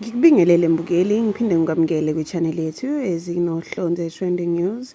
Ngikubingelele mbukeli ngiphinde ngikwamukele kwi-channel yethu ezinohlonze trending news.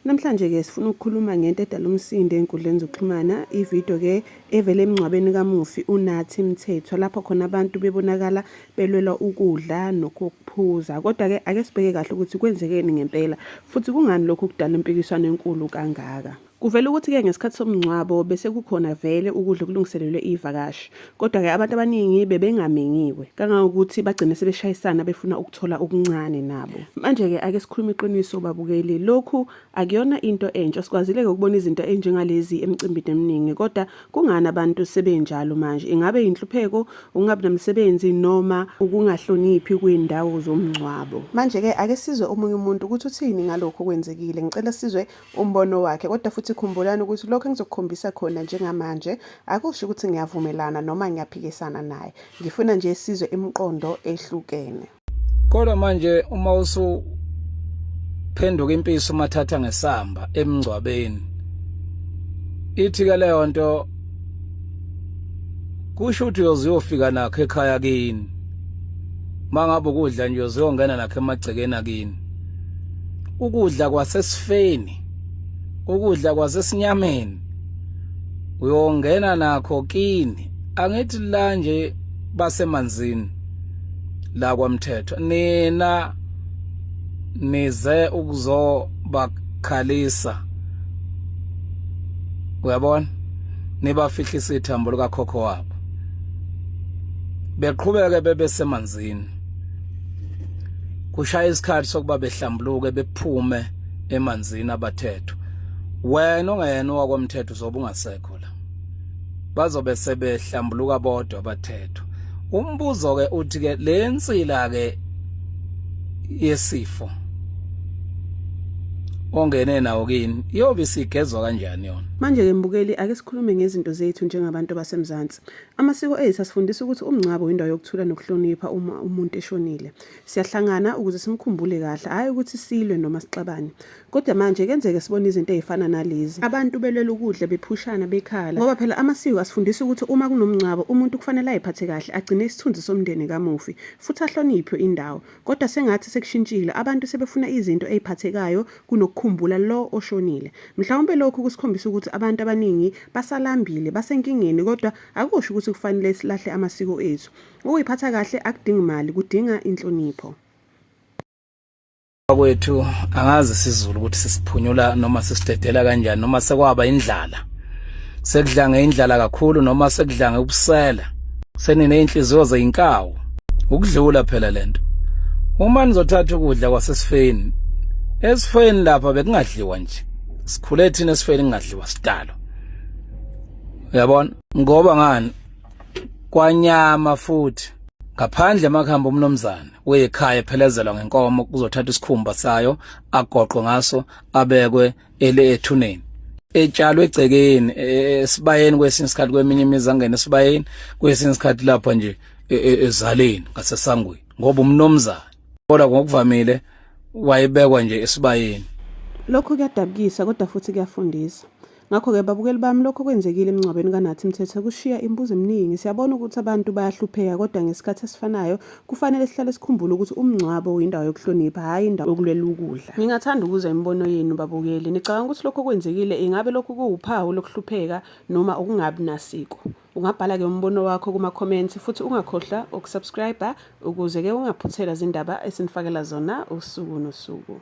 Namhlanje ke sifuna ukukhuluma ngento edala umsindo enkundleni zokuxhumana, ivideo ke evele emngcwabeni kamufi uNathi Mthethwa lapho khona abantu bebonakala belwela ukudla nokuphuza. Kodwa ke ake sibheke kahle ukuthi kwenzekeni ngempela futhi kungani lokhu kudala impikiswano enkulu kangaka. Kuvela ukuthi-ke ngesikhathi somngcwabo bese kukhona vele ukudla okulungiselelwe iy'vakashi. Kodwa-ke abantu abaningi bebengamenyiwe kangangokuthi bagcine sebeshayisana befuna ukuthola okuncane nabo. Manje-ke ake sikhulume iqiniso babukeli, lokhu akuyona into entsha. Sikwazile-ke ukubona izinto enjengalezi emicimbini eminingi kodwa kungani abantu sebenjalo manje? Ingabe yinhlupheko, ukungabi namsebenzi noma ukungahloniphi kwiy'ndawo zomngcwabo? Manje-ke ake sizwe omunye umuntu ukuthi uthini ngalokhu okwenzekile. Ngicela sizwe umbono wakhe kodwa futhi khumbulani ukuthi lokho engizokukhombisa khona njengamanje akusho ukuthi ngiyavumelana noma ngiyaphikisana naye ngifuna nje sizwe imiqondo ehlukene kodwa manje uma usuphenduka impisi umathatha ngesamba emngcwabeni ithi ke leyo nto kusho ukuthi uyoziyofika nakho ekhaya kini mangabe ukudla nje uziyongena nakho emagcekeni akini ukudla kwasesifeni ukudla kwasesinyameni uyongena nakho kini angithi la nje basemanzini la kwamthetho nina nize ukuzobakhalisa uyabona nibafihlisa ithambo likakhokho wabo beqhubeke bebesemanzini kushaya isikhathi sokuba behlambuluke bephume emanzini abathethwa wena ongayena owakwamthetho uzobe ungasekho la bazobe sebehlambuluka bodwa abathethwa umbuzo ke uthi ke le nsila ke yesifo ongene nawo kini iyobe isigezwa kanjani yona manje ke mbukeli ake sikhulume ngezinto zethu njengabantu basemzansi Amasiko ethu asifundisa ukuthi umngcwabo windawo yokuthula nokuhlonipha uma umuntu eshonile. Siyahlangana ukuze simkhumbule kahle, hhayi ukuthi silwe noma sixabane. Kodwa manje kenzeke sibone izinto ezifana nalezi. Abantu belwela ukudla bephushana bekhala ngoba phela amasiko asifundisa ukuthi uma kunomngcwabo umuntu kufanele ayiphathe kahle agcine isithunzi somndeni kamufi futhi ahloniphe indawo. Kodwa sengathi sekushintshile abantu sebefuna izinto eziphathekayo kunokukhumbula lo oshonile. Mhlawumbe lokhu kusikhombisa ukuthi abantu abaningi basalambile, basenkingeni kodwa akusho ukuthi kufanele silahle amasiko ethu. Ukuyiphatha kahle akudingi mali, kudinga inhlonipho. Kwethu angazi sizulu ukuthi sisiphunyula noma sisidedela kanjani noma sekwaba indlala. sekudlange indlala kakhulu noma sekudlange ubusela senineyinhliziyo zeyinkawu ukudlula phela lento uma nizothatha ukudla kwasesifeni esifeni lapha bekungadliwa nje sikhule thina esifeni kungadliwa sidalo uyabona ngoba ngani kwanyama futhi ngaphandle emakhamba umnomzana wekhaya ephelezelwa ngenkomo kuzothatha isikhumba sayo agoqwe ngaso abekwe ele ethuneni etshalwe egcekeni e, e, esibayeni kwesinye isikhathi kweminye imizi angena esibayeni kwesinye isikhathi lapha nje e, ezaleni ngasesangweni ngoba umnomzana kodwa ngokuvamile wayebekwa nje esibayeni lokho kuyadabukisa kodwa futhi kuyafundisa ngakho-ke babukeli bami lokho kwenzekile emngcwabeni kanathi mthethe kushiya imibuzo eminingi siyabona ukuthi abantu bayahlupheka kodwa ngesikhathi esifanayo Kufanele sihlale sikhumbule ukuthi umngcwabo uyindawo yokuhlonipha, hhayi indawo yokulwela ukudla. Ngingathanda ukuzwa imibono yenu babukeli. Nicabanga ukuthi lokhu okwenzekile ingabe lokhu kuwuphawu lokuhlupheka noma ukungabi nasiko? Ungabhala-ke umbono wakho kuma-comments futhi ungakhohlwa ukusubscribe ukuze-ke ungaphuthelwa zindaba esinifakela zona usuku nosuku.